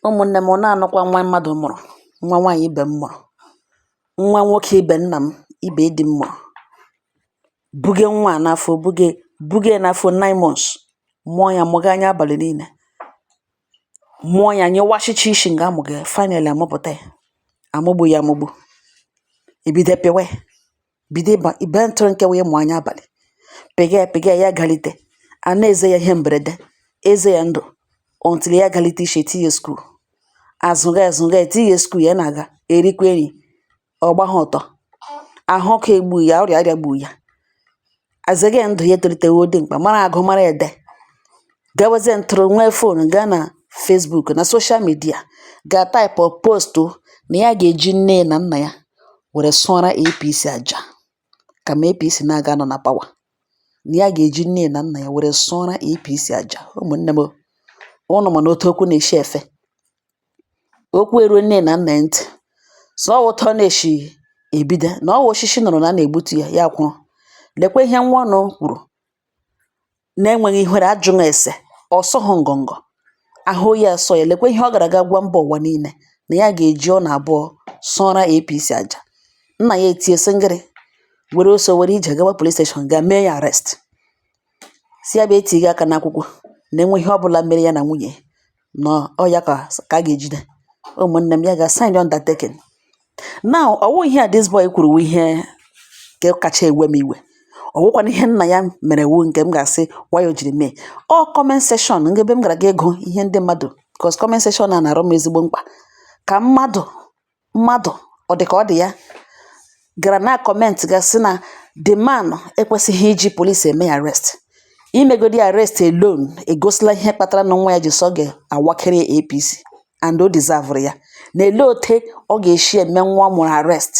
Ụmụnne m, ụnụ na-anụkwa nwa mmadụ mụrụ, nwa nwaanyị ibe m mụrụ, nwa nwoke ibe nna m, ibe di m mụrụ. Buge nwa a n'afọ, buge buge ya n'afọ nine months, mụọ ya mụga anya abalị niile, mụọ ya nyụwashịcha ishi nga amụga ya, finally amụpụta ya, amụgbu ya amụgbu, ebido pịwa ya. bido ịba ibe ntụrụ nke wee mụ anya abalị pịga ya pịga ya galite a na-eze ya ihe mberede eze ya ndụ until ya galite ishe tinye school azụga azụga etinye school ya na-aga erikwa nri ọ gbagha ọtọ ahụ ọkụ egbu ya ọrịa egbu ya azege ndụ ya etolitewo dimkpa mara agụ mara ede gawazie ntụrụ nwee phone gaa na Facebook na social media ga type post na ya ga-eji nne na nna ya were sụọra APC aja kama APC na-aga anọ na power na ya ga-eji nne na nna ya were sụọra APC aja ụmụnne m ụnụ ma na otu okwu na-eshi efe okwu eruo nne na nna ntị sị ọ wụ otu ọ na-eshi ebido na ọ wụ oshishi nụrụ na a na-egbutu ya ya kwụrụ lekwa ihe nwa ụnụ kwuru na-enweghị ihere ajụghị ese ọ sọghị ngọngọ ahụ ya sọ ya lekwa ihe ọ gara aga gwa mba ụwa niile na ya ga-eji ụnụ abụọ sụọra APC aja nna ya etie sịngịrị were ọsọ were ije gawa police station ga mee ya arrest sị ya bịa tinye aka n'akwụkwọ na e nwee ihe ọbụla mere ya na nwunye na ọ ya ka a ga-ejide ụmụnne m ya ga sign undertaking now ọ wụ ihe a this boy kwuru ihe nke kacha ewe m iwe ọ wụkwana ihe nna ya mere wu nke m ga-asị why o jiri mee ọ comment section nke ebe m gara ga agụ ihe ndị mmadụ because comment section a na-arụ m ezigbo mkpa ka mmadụ mmadụ ọ dị ka ọ dị ya gara na comment ga sị na the man ekwesịghị iji police eme ya arrest imegodi arrest alone egosila ihe kpatara na nwa ya ji sị ọ ga-awakịrị APC and o deserve ya na elee otu ọ ga-eshi eme nwa ọ mụrụ arrest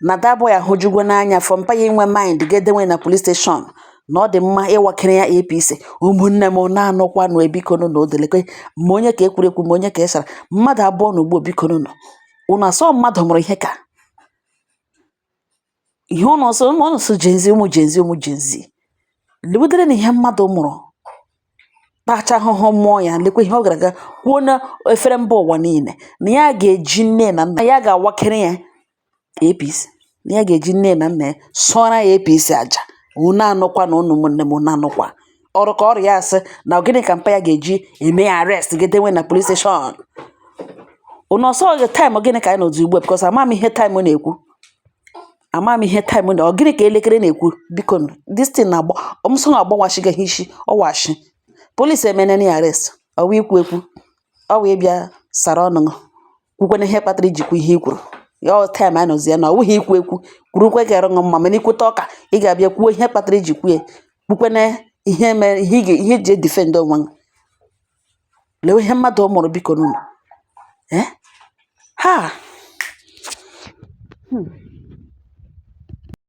na that boy ahụjugwo n'anya for mpa ya inwe mind ga dewe na police station na ọ dị mma ịwakịrị ya APC ụmụnne m na-anụkwanụ bikonu na odelekwe ma onye ka ekwurekwu ma onye ka esara mmadụ abụọ na ugbo bikonu nọ unu asọ mmadụ mụrụ ihe ka ihe ụnụ ọsọ ụmụ ụnụ so Gen Z ụmụ Gen Z ụmụ Gen Z lebudere na ihe mmadụ mụrụ tacha ahụhụ mụọ ya lekwa ihe ọ gara aga kwuo na efere mba ụwa niile na ya ga-eji nne na nna ya ga-awakịrị ya APC na ya ga-eji nne na nna ya sụọra ya APC aja unu anụkwa na ụnụ ụmụnne m unu anụkwa ọrụ ka ọrụ ya asị na gịnị ka mpa ya ga-eji eme ya arrest ga edewe na police station unu ọsọ gị time gịnị ka anyị nọzi ugbu a because ama m ihe time na-ekwu ama m ihe time na ọ gịnị ka elekere na-ekwu biko this thing na-agba ọmụsọ na-agbawasịga ha isi ọwashi police emene ya arrest ọwa ikwu ekwu ọwa ịbịa sara ọnụ kwukwana ihe kpatara i ji kwuo ihe i kwuru ya ọ time a nọzi ya na ọ wụghị ikwu ekwu kwurukwa ka ịrụṅụ mma mana i kwute ụka ị ga-abịa kwuo ihe kpatara i ji kwuo kwukwana ihe mere ihe ị ga- ihe e ji e-defend onwe gị lewe ihe mmadụ mụrụ bikonu ee ha